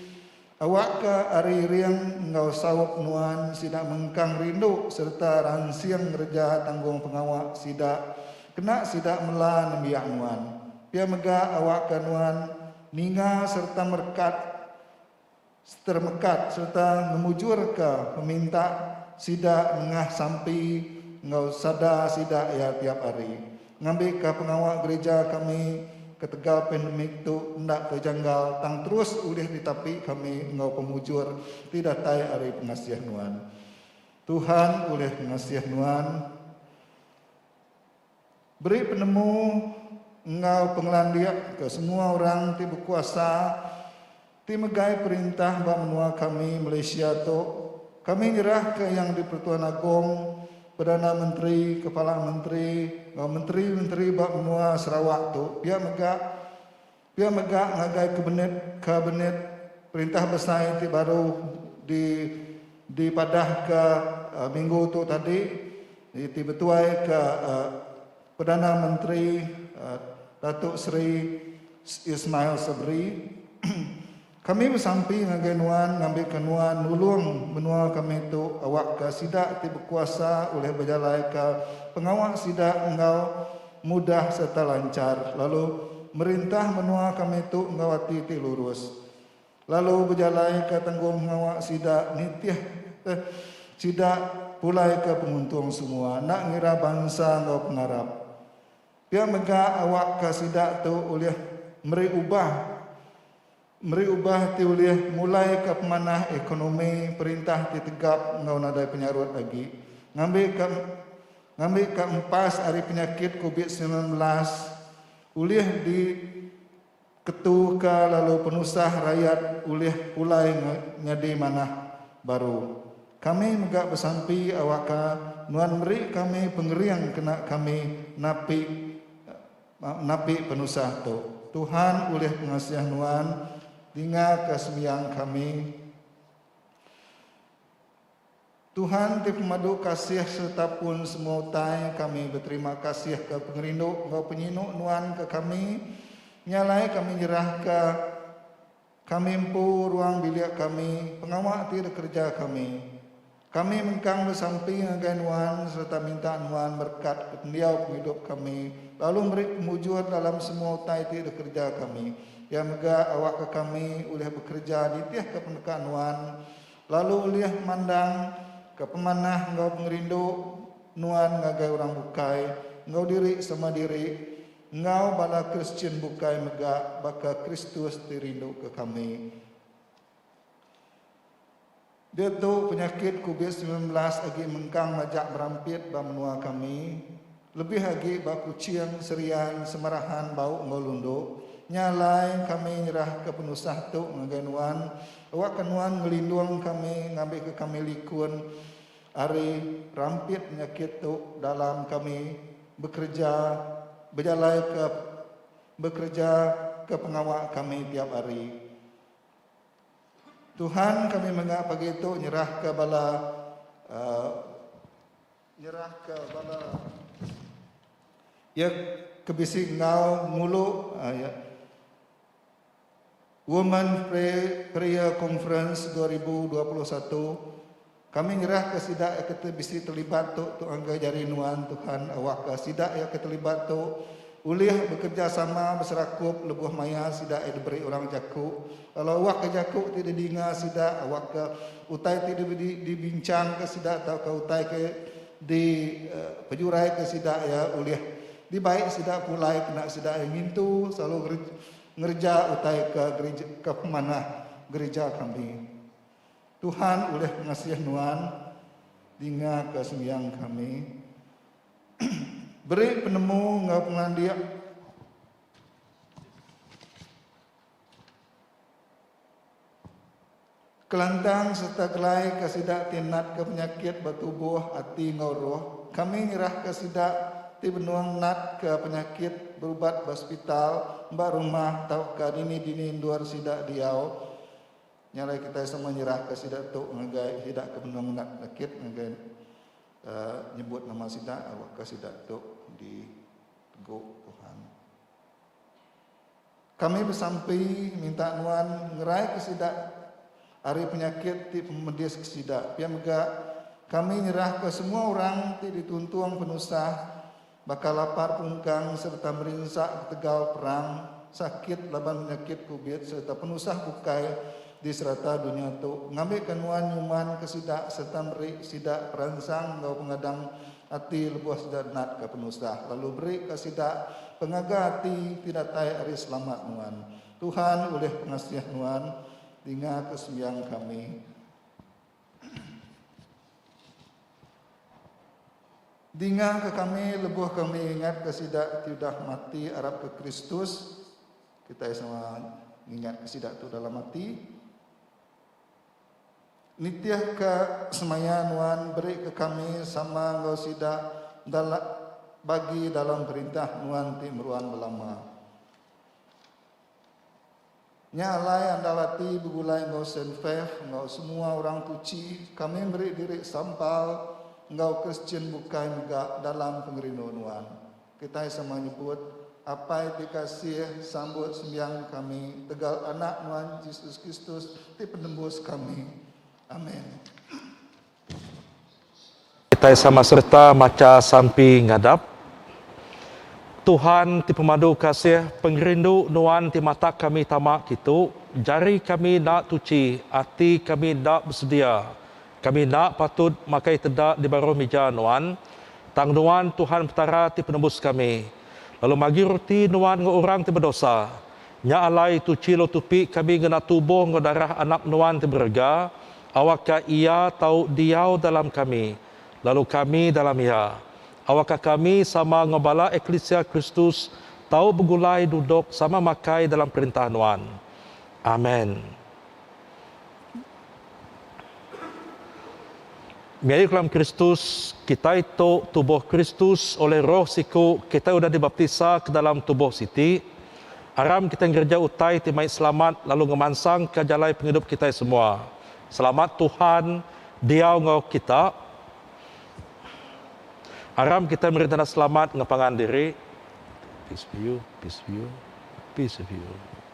Awakka ari ring enggau saup nuan sida mengkang rindu sereta ransing ngereja tanggungpengawa sida kena sida mela nembiak nuan. Pia mega awakka nuan ninga sereta merekat seteremekat sereta ngemujurka peminta sida nengah sampi enggau sada sida iya tiap hari. Ngambika pengawa gerija kami ketegal pandemik tu enda ke janggal tang terus ulih ditapi kami enggau pemujur ti datai ari pengasih nuan. Tuhan ulih ngasih nuan beri penemu enggau pengelandik ke semua orang ti bekuasa. Ti megai perintah ba menua kami Malaysia tu, kami nyerahka Yang di-pertuan Agong, Perdana Menteri, Kepala Menteri enggau menteri-menteri ba menua Sarawak tu pia mega pia mega ngagai kabinet kabinet perintah besai ti baru di dipadahka minggu tu tadi iti betuaika Perdana Menteri Datuk Seri Ismail Sabri, Kami besampi ngagai nuan ngambika nuan nulung menua kami tu awakka sida ti bekuasa ulih bejalaika pengawa sida enggau mudah sereta lanchar lalu merintah menua kami tu enggau ati ti lurus. lalu bejalaika tanggunghawa sida nitih eh sida pulaika penguntung semua enda ngira bansa enggau pengarap. Pia mega awakka sida tu ulih meri ubah meri ubah ti ulih mulaika pemanah ekonomi perintah ti tegap enggau nadai penyarut agi ngambika ngambika empas ari penyakit covid sembilan belas ulih di Ketu ka lalu penusah rayat ulih pulai nyadi manah baru. Kami mega besampi awakka nuan meri kami pengering kena kami napi napi penusah tu. Tuhan ulih pengasih nuan dinga ka sembiang kami. Tuhan ti pemadu kasih sereta pun semua utai, kami beterima kasihka pengerindu enggau penyinu Nuan ke kami. Nya alai kami nyerahka kami empu ruang bilik kami, pengawa ti dikereja kami. Kami mengkang besampi ngagai Nuan sereta minta Nuan berekatka pendiau pengidup kami lalu meri pemujur dalam semua utai ti dikereja kami. Iya mega awakka kami ulih bekereja nitihka peneka Nuan Lalu ulih mandang ka pemanah enggau pengerindu nuan ngagai orang bukai enggau diri sama diri enggau bala Kristian bukai mega baka Kristus ti rinduka kami. Diatu penyakit Covid sembilan belas agi mengkang majak berampit ba menua kami. Lebih agi ba Kuching, Serian, Semerahan bau enggau Lundu, nya alai kami nyerahka penusah tu ngagai nuan, awakka nuan ngelindung kami ngambika kami likun ari rampit penyakit tu dalam kami bekereja bejalaika bekereja ke pengawa kami tiap hari. Tuhan kami mega pagi tu nyerahka bala. Nyerahka bala iya ke bisi enggau ngulu Women Prayer Conference dua ribu dua puluh satu, kami nyerahka sida iya ke bisi telibat tu tu ngagai jari nuan Tuhan awakka sida iya ke telibat tu ulih bekerejasama beserakup lebuh maya sida iya diberi orang jaku. Kala awak ke jaku ti didinga sida, awak ke utai ti dibinchangka sida tauka utai ke dipejuraika sida iya ulih dibai sida pulai kena sida iya ngintu selalu ngereja utai ke gereja ke pemanah gereja kami. Tuhan ulih ngasih nuan dingaka sembiang kami. Beri penemu enggau pengelandik. Kelantang sereta gelai ke sida ti natka penyakit ba tubuh, ati enggau roh, kami nyerahka sida ti benung natka penyakit berubat ba sepital, ba rumah tauka dini-dini endur sida diau. Nya alai kitai sama nyerahka sida tu ngagai sida ke benung nat penyakit ngagai uhh nyebut nama sida, awakka sida tu dipegu Tuhan. Kami besampi minta nuan ngeraika sida ari penyakit ti pemedis ke sida. Pia mega, kami nyerahka semua orang ti dituntung penusah baka lapar pungkang sereta merinsa ketegal perang, sakit laban penyakit covid sereta penusah bukai di serata dunya tu, ngambika nuan nyumanka sida sereta meri sida peransang enggau pengadang Ati lebuh sida natka penusah, lalu berika sida pengaga ati ti datai ari selamat nuan. Tuhan ulih pengasih nuan, dingaka sembiang kami. Dingaka kami lebuh kami ingatka sida ti udah mati arapka Kristus. Kitai sama ngingatka sida tu dalam ati. Nitihka semaya nuan berika kami sama enggau sida enda la bagi dalam perintah nuan ti meruan belama. Nya alai andal ati begulai enggau Saint Fav enggau semua orang tuchi kami meri diri sampal enggau Kristian bukai mega dalam pengerindu nuan. Kitai sama nyebut Apai ti kasih sambut sembiang kami tegal Anak nuan Jesus Kristus ti penembus kami. Amen. Kitai sama sereta macha sampi ngadap. Tuhan ti pemadu kasih, pengerindu nuan ti matak kami tama kitu, jari kami enda tuchi, ati kami enda besedia. Kami enda patut makai teda di baruh mija Nuan, tang Nuan Tuhan Petara ti Penebus kami. Lalu magi ruti Nuan enggau orang ti bedosa. Nya alai tuchi lalu tupi kami ngena tubuh enggau darah Anak Nuan ti berega, awakka Iya tau diau dalam kami, lalu kami dalam Iya. Awakka kami sama enggau bala eklisia Kristus tau begulai duduk sama makai dalam perintah Nuan. Amen. Gaya kelam Kristus, kitai tu tubuh Kristus oleh Roh siku kitai udah dibaptisa ke dalam tubuh siti. Aram kitai ngereja utai ti mai selamat lalu ngemansangka jalai pengidup kitai semua. Selamat Tuhan diau enggau kita. Aram kitai meri tanda selamat enggau pangan diri. Peace of you, peace of you, peace of you.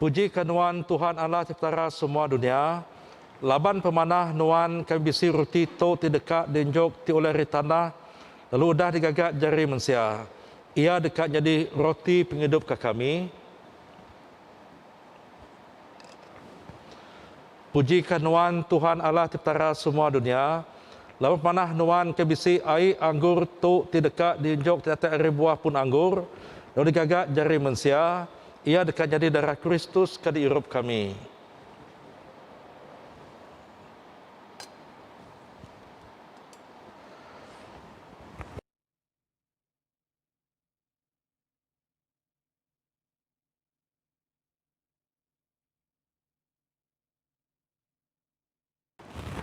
Pujika Nuan Tuhan Allah ti Petara semua dunia, laban pemanah Nuan kami bisi ruti tu ti deka diunjuk ti ulih ari tanah lalu udah digaga jari mensia. Iya deka nyadi Roti pengidup ka kami. Pujika Nuan Tuhan Allah Petara semua dunia, laban manah Nuan ke bisi ai anggur tu ti deka diunjuk ti datai ari buah pun anggur, lalu digaga jari mensia, iya deka nyadi darah Kristus ke diirup kami.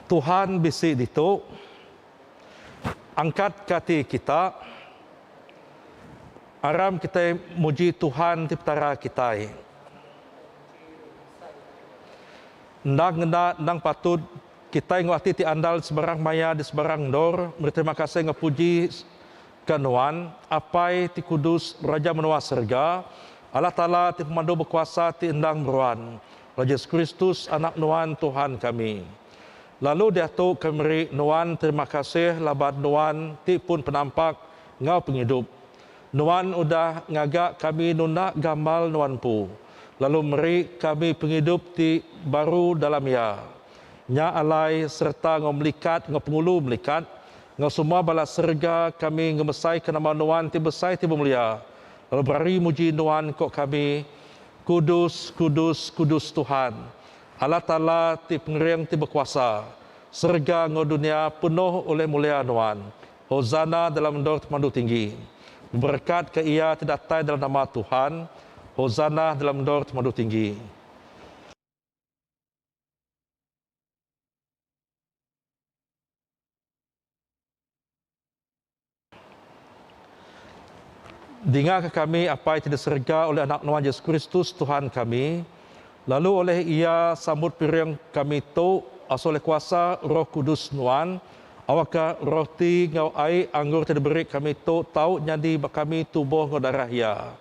Tuhan bisi ditu. Angkat ka ati kita. Aram kitai muji Tuhan ti Petara kitai. Endang ngena endang patut kitai enggau ati ti andal sebarang maya di sebarang endor meri terima kasih enggau puji. Ka nuan, Apai ti kudus, Raja menua serega, Allah Taala ti pemandu bekuasa ti endang meruan, lalu Jesus Kristus, Anak nuan, Tuhan kami. Lalu diatu kami meri nuan terima kasih laban nuan ti pun penampak enggau pengidup. Nuan udah ngaga kami nunda gambar nuan empu, lalu meri kami pengidup ti baru dalam iya. Nya alai sereta enggau melikat enggau pengulu melikat, enggau semua bala serega kami ngemesaika nama Nuan ti besai ti bemelia, lalu berari muji Nuan ko kami, Kudus, kudus, kudus Tuhan, Allah Taala ti Pengering ti Bekuasa, serega enggau dunia penuh oleh mulia Nuan, Hosana dalam endor Temandu Tinggi. Beberekatka Iya ti datai dalam nama Tuhan, Hosana dalam endor Temandu Tinggi. Dingaka kami, Apai ti di serega, oleh Anak Nuan Yesus Kristus, Tuhan kami, lalu oleh Iya sambut piring kami tu asal oleh kuasa Roh Kudus Nuan, awakka roh ti enggau ai anggur ti diberi kami tu tau nyadi ba kami tubuh enggau darah Iya.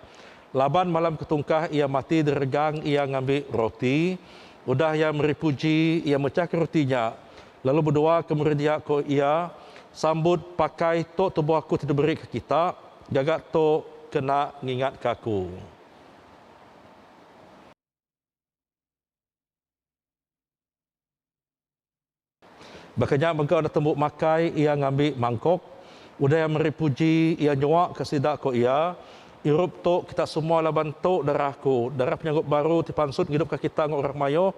Laban malam ke tungkah iya mati diregang iya ngambi roti. Udah iya meri puji, iya mechahka roti nya, lalu bedua ke murid iya ku iya, Sambut pakai tu tubuh aku ti diberi ke kita, gaga tu kena ngingatka aku. Baka nya mega enda tembu makai iya ngambi mangkok. Udah iya meri puji, iya nyuaka sida ku iya, Irup tu kita semua laban tu darah aku, darah penyanggup baru ti pansut ngidupka kita enggau orang mayuh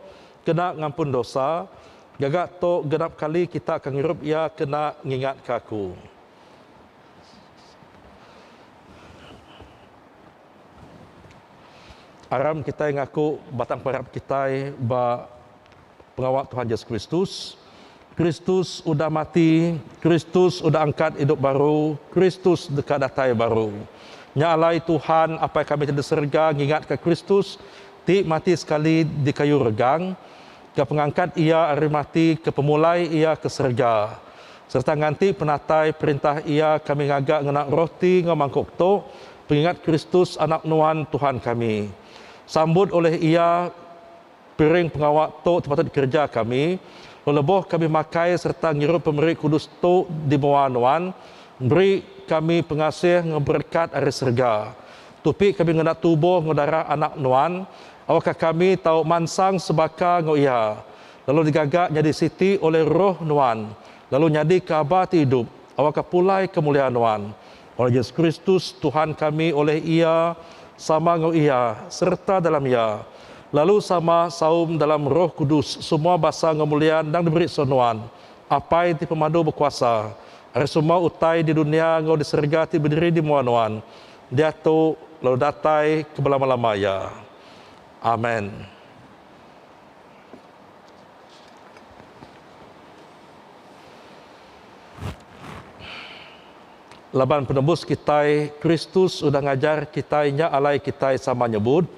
kena ngampun dosa. Gaga tu genap kali kita ke ngirup iya kena ngingatka aku. Aram kitai ngaku batang parab kitai ba. Pengawa Tuhan Yesus Kristus, Kristus udah mati, Kristus udah angkat idup baru, Kristus deka datai baru. Nya alai Tuhan, Apai kami ti di serega ngingatka Kristus ti mati sekali di kayu regang, ke pengangkat Iya ari mati, ke pemulai Iya ke serega, sereta nganti penatai perintah Iya kami ngaga ngena roti enggau mangkuk tu pengingat Kristus Anak Nuan Tuhan kami. Sambut ulih Iya. Piring pengawa tu sepatut dikereja kami lalu lebuh kami makai sereta ngirup pemeri kudus tu di mua nuan, beri kami pengasih enggau berekat ari serega. Tupi kami ngena tubuh enggau darah Anak nuan, awakka kami tau mansang sebaka enggau iya, lalu digaga nyadi siti oleh Roh nuan, lalu nyadika aba ti idup, awakka pulai kemulia nuan. Oleh Yesus Kristus, Tuhan kami, oleh Iya, sama enggau Iya, sereta dalam Iya, lalu sama saum dalam Roh Kudus semua basa enggau mulia endang diberi so Nuan, Apai ti pemadu bekuasa, ari semua utai di dunia enggau di serega ti bediri di mua Nuan, diatu lalu datai ke belama-lama iya. Amen. Laban Penebus kitai, Kristus udah ngajar kitai nya alai kitai sama nyebut,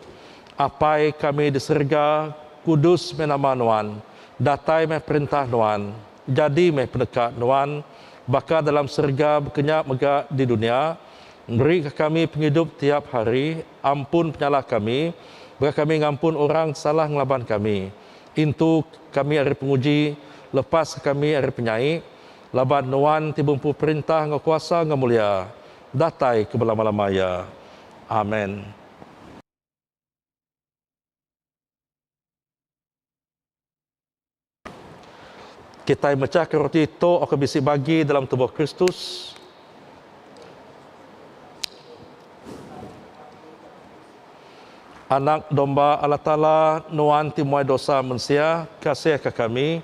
Apai kami di serega, kudus meh nama Nuan, datai meh perintah Nuan, jadi meh peneka Nuan, baka dalam serega bekenya mega di dunya, Berika kami pengidup tiap hari, ampun penyalah kami, baka kami ngampun orang ti salah ngelaban kami. Intu kami ari penguji, lepascha kami ari penyai, Laban Nuan ti bempu perintah enggau kuasa enggau mulia, datai ke belama-lama iya. Amen. Kitai mechahka roti tu oka bisi bagi dalam tubuh Kristus. Anak Domba Allah Taala, Nuan ti muai dosa mensia, kasihka kami.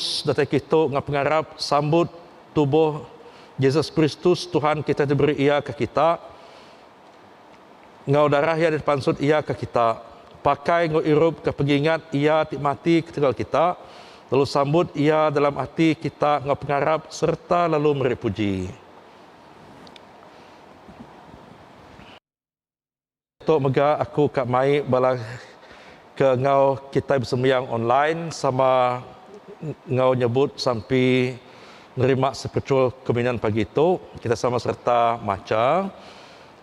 Datai kitu enggau pengarap sambut tubuh Jesus Kristus Tuhan kita ti beri iya ke kita enggau darah iya ti pansut iya ke kita. Pakai enggau irup ke pengingat iya ti mati ketegal kita lalu sambut iya dalam ati kita enggau pengarap serta lalu meri puji. Tu mega aku ka mai bala ke enggau kitai besembiang online sama enggau nyebut sampi nerima spiritual communion pagi tu. Kita sama sereta macha,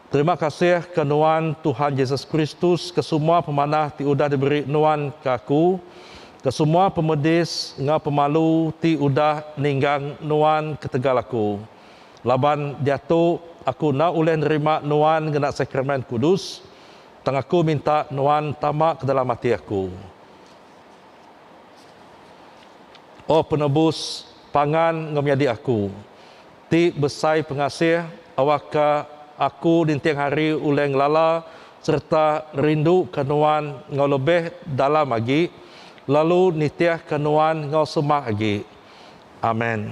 Terima kasih ke nuan Tuhan Jesus Kristus ke semua pemanah ti udah diberi nuan ke aku, ke semua pemedis enggau pemalu ti udah ninggang nuan ketegal aku. Laban diatu, aku enda ulih nerima Nuan ngena Sakramen Kudus, tang aku minta Nuan tama ke dalam ati aku. Oh Penebus, pangan enggau menyadi aku. Ti besai pengasih, awakka aku ninting hari ulih ngelala sereta rinduka Nuan enggau lebih dalam agi, lalu nitihka Nuan enggau semah agi. Amen.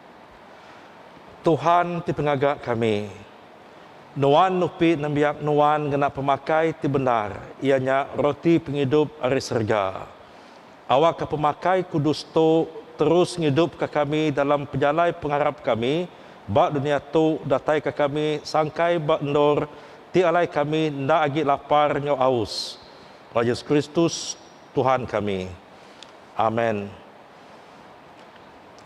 Tuhan ti pengaga kami. Nuan nupi nembiak Nuan ngena pemakai ti bendar, iya nya roti pengidup ari serega. Awakka pemakai kudus tu terus ngidupka kami dalam pejalai pengarap kami ba dunia tu dataika kami sangkai ba endur ti alai kami enda agi lapar enggau aus. Ba Yesus Kristus, Tuhan kami. Amen.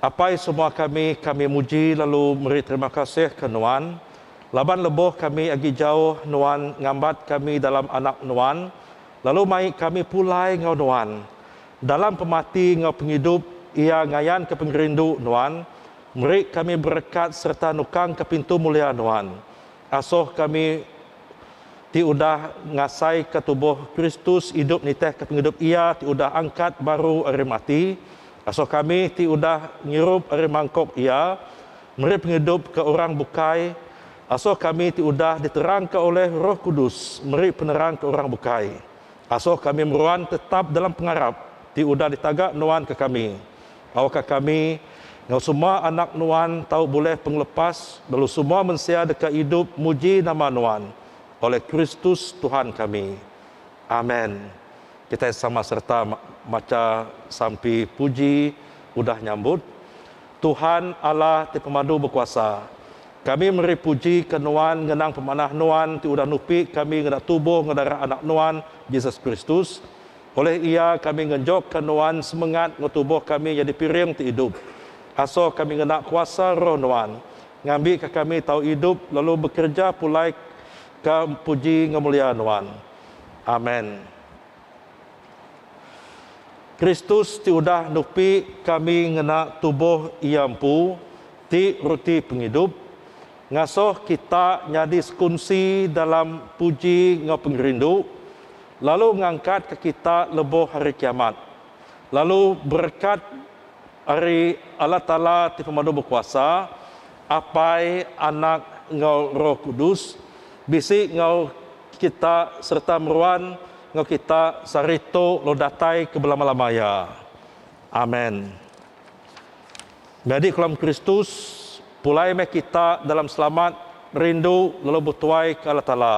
Apai semua kami, kami muji lalu meri terima kasih ke Nuan, laban lebuh kami agi jauh Nuan ngambat kami dalam anak Nuan lalu mai kami pulai enggau Nuan. Dalam pemati enggau pengidup iya ngayanka pengerindu Nuan, meri kami berekat sereta nukangka pintu mulia Nuan. Asoh kami. ti udah ngasaika tubuh Kristus idup nitihka pengidup Iya ti udah angkat baru ari mati, asoh kami ti udah ngirup ari mangkok Iya meri pengidup ke orang bukai, asoh kami ti udah diterangka oleh Roh Kudus meri penerang ke orang bukai, asoh kami meruan tetap dalam pengarap ti udah ditaga nuan ke kami, Tauka kami, enggau semua anak Nuan tau bulih pengelepas lalu semua mensia deka idup muji nama Nuan, oleh Kristus Tuhan kami. Amen. Kitai sama sereta macha sampi puji udah nyambut. Tuhan Allah ti pemadu bekuasa, kami meri puji ke Nuan ngenang pemanah Nuan ti udah nupi kami ngeda tubuh enggau darah Anak Nuan, Jesus Kristus. Olih iya kami ngenjokka Nuan semengat enggau tubuh kami nyadi piring ti idup. Asoh kami ngena kuasa Roh Nuan, ngambika kami tau idup lalu bekereja pulai ka puji enggau mulia Nuan. Amen. Kristus ti udah nupi kami ngena tubuh Iya empu ti Ruti Pengidup, ngasoh kita nyadi sekunsi dalam puji enggau pengerindu. lalu ngangkatka kita lebuh Hari Kiamat, lalu berekat ari Allah Taala ti Pemadu Bekuasa, Apai, Anak, enggau Roh Kudus, bisi enggau kita sereta meruan enggau kita sehari tu lalu datai ke belama-lama iya. Amen. Nyadi kelam Kristus, pulai meh kita dalam selamat, rindu lalu betuai ke Allah Taala.